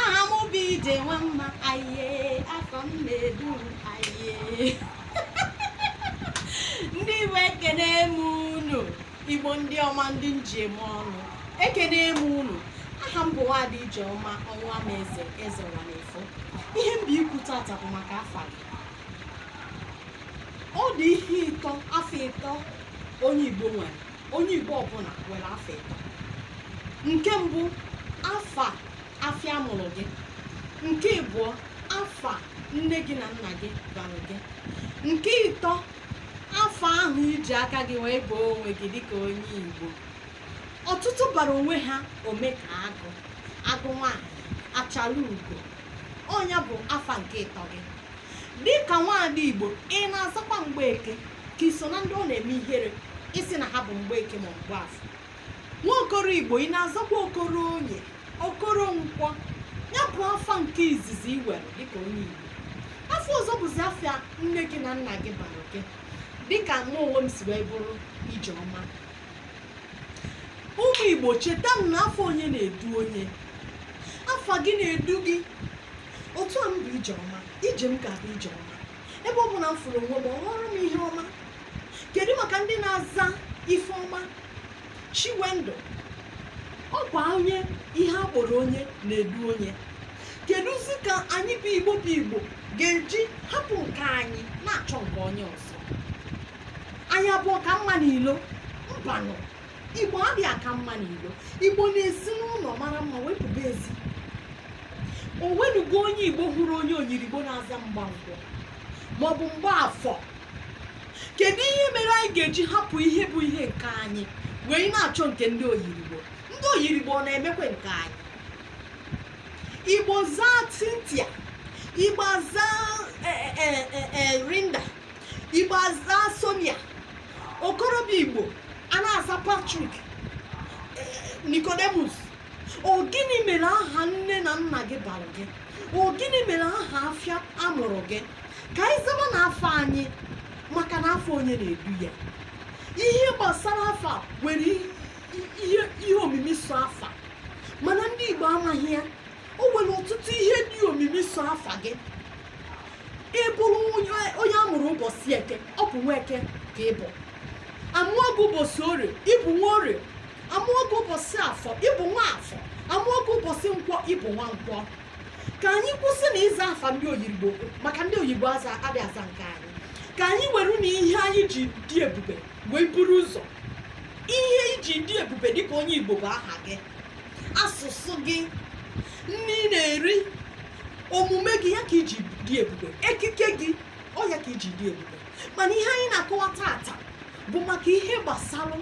aha m bụ ije nwa mma aye afa m na-edu m aye ndị igbo ekene m unu igbo ndị ọma ndị m ji eme ọnụ ekene m unu aha m bụ nwaada ijeọma ọnwa m eze eze ụwa na-efo ihe m bịa ikwu tata bụ maka afa gị ọ dị ihe ịtọ afa ịtọ onye igbo nwere onye igbo ọbụla nwere afa ịtọ nke mbụ afa afịa a mụrụ gị nke ịbụọ afa nne gị na nna gị bara gị nke ịtọ afa ahụ i ji aka gị wee baa onwe gị dịka onye igbo ọtụtụ bara onwe ha ome ka agụ agụ nwaanyị achala ugo ọ nya bụ afa nke ịtọ gị dịka nwaada igbo ị na-azakwa mgbeke ka i so na ndị ọ na-eme ihere ịsị na ha bụ mgbeke ma mgbafọ nwa okoro igbo ị na-azakwa okoro oye okoro nkwọ ya bụ afa nke izizi i nwere dịka onye igbo afa ọzọ bụzi afa nne gị na nna gị bara gị dịka mụ onwe m si wee bụrụ ijeọma ụmụ igbo cheta m na afa onye na-edu onye afa gị na-edu gị otu a m bụ ijeọma ije m ga-abụ ije ọma ebe ọbụna m fụrụ onwe m ọ ghọrọ m ihe ọma kedu maka ndị na-aza ifeọma chiwendụ ọ kwa onye ihe a kpọrọ onye na-edu onye kedụzi ka anyị bụ igbo bụ igbo ga-eji hapụ nke anyị na-achọ nke onye ọzọ anyị abụ ọka mma n'ilo mbanụ igbo adịghị aka mma n'ilo igbo na-esi n'ụlọ mara mma wee pụba ezi o nwenugo onye igbo hụrụ onye oyirigbo na-aza mgbankwọ maọbụ mgbafọ kedu ihe mere anyị ga-eji hapụ ihe bụ ihe nke anyị wee na-achọ nke ndị oyirigbo ndị oyirigbo ọ na-emekwa nke anyị igbo zaa cynthia igbo zaa e, e, e, linda igbo azaa sonia okorobịa igbo a na-aza patrick eh, nicodemus ọ gịnị mere aha nne na nna gị bara gị ọ gịnị mere aha afịa a mụrụ gị ka anyị zaba na afa anyị maka na afa onye na-edu ya ihe gbasara afa nwere ihe omimi so afa mana ndị igbo amaghị ya o nwere ọtụtụ ihe dị omimi so afa gị ị bụrụ onye a mụrụ ụbọchị eke ọ bụ nwa eke ka ị bụ a mụọ gị ụbọchị orie ị bụ nwa orie a mụọ gị ụbọchị afọ ị bụ nwa afọ a mụọ gị ụbọchị nkwọ ị bụ nwa nkwọ ka anyị kwụsị na ịza afa ndị oyirigbo maka ndị oyibo adị aza nke anyị ka anyị were na ihe anyị ji dị ebube wee buru ụzọ ihe i ji dị ebube dịka onye igbo bụ aha gị asụsụ gị nni ị na-eri omume gị ya ka i ji dị ebube ekike gị ọ ya ka i ji dị ebube mana ihe anyị na-akọwa tata bụ maka ihe gbasara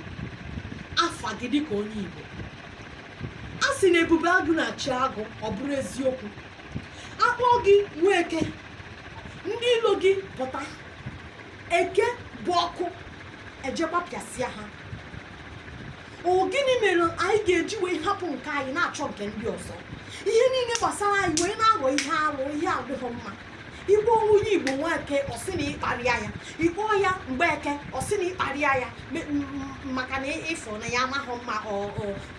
afa gị dịka onye Igbo a sị na ebube agụ na-eche agụ ọ bụrụ eziokwu a kpọọ gị nweke ndị ilo gị pụta eke bụ ọkụ eje gbapịasịa ha ọ gịnị mere anyị ga-eji wee hapụ nke anyị na-achọ nke ndị ọzọ ihe niile gbasara anyị wee na-aghọ ihe alụ ihe adịghị mma ị kpọọ onye igbo nweke ọ sị na ị kparịa ya ị kpọọ ya mgbeke ọ sị na ị kparịa ya maka na ị fụ na ya amaghị mma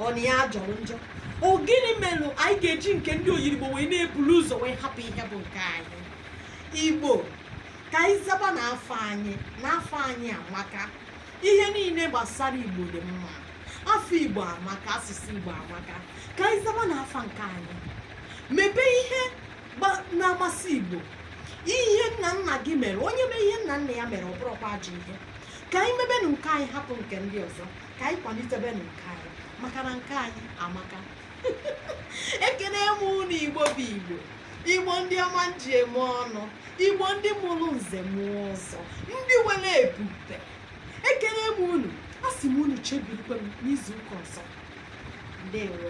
ọ na ya jọrọ njọ ọ gịnị mere anyị ga-eji nke ndị oyirigbo wee na-ebulu ụzọ wee hapụ ihe bụ nke anyị igbo ka anyị zabanụ afa anyị na afa anyị amaka ihe niile gbasara igbo dị mma afa igbo amaka asụsụ igbo amaka ka anyị zabanụ afa nke anyị mebe ihe na-amasị igbo ihe nna nna gị mere onye mee ihe nna nna ya mere ọ bụrọkwa ajọ ihe ka anyị mebenụ nke anyị hapụ nke ndị ọzọ ka anyị kwalitebenụ nke anyị maka na nke anyị amaka ekene m unu igbo bụ igbo igbo ndị ọma m ji eme ọnụ igbo ndị mụrụ nze mụọ ọzọ ndị nwere ebube ekele m unu asị m unu chebirikwe m n'izu ụka ọzọ ndewo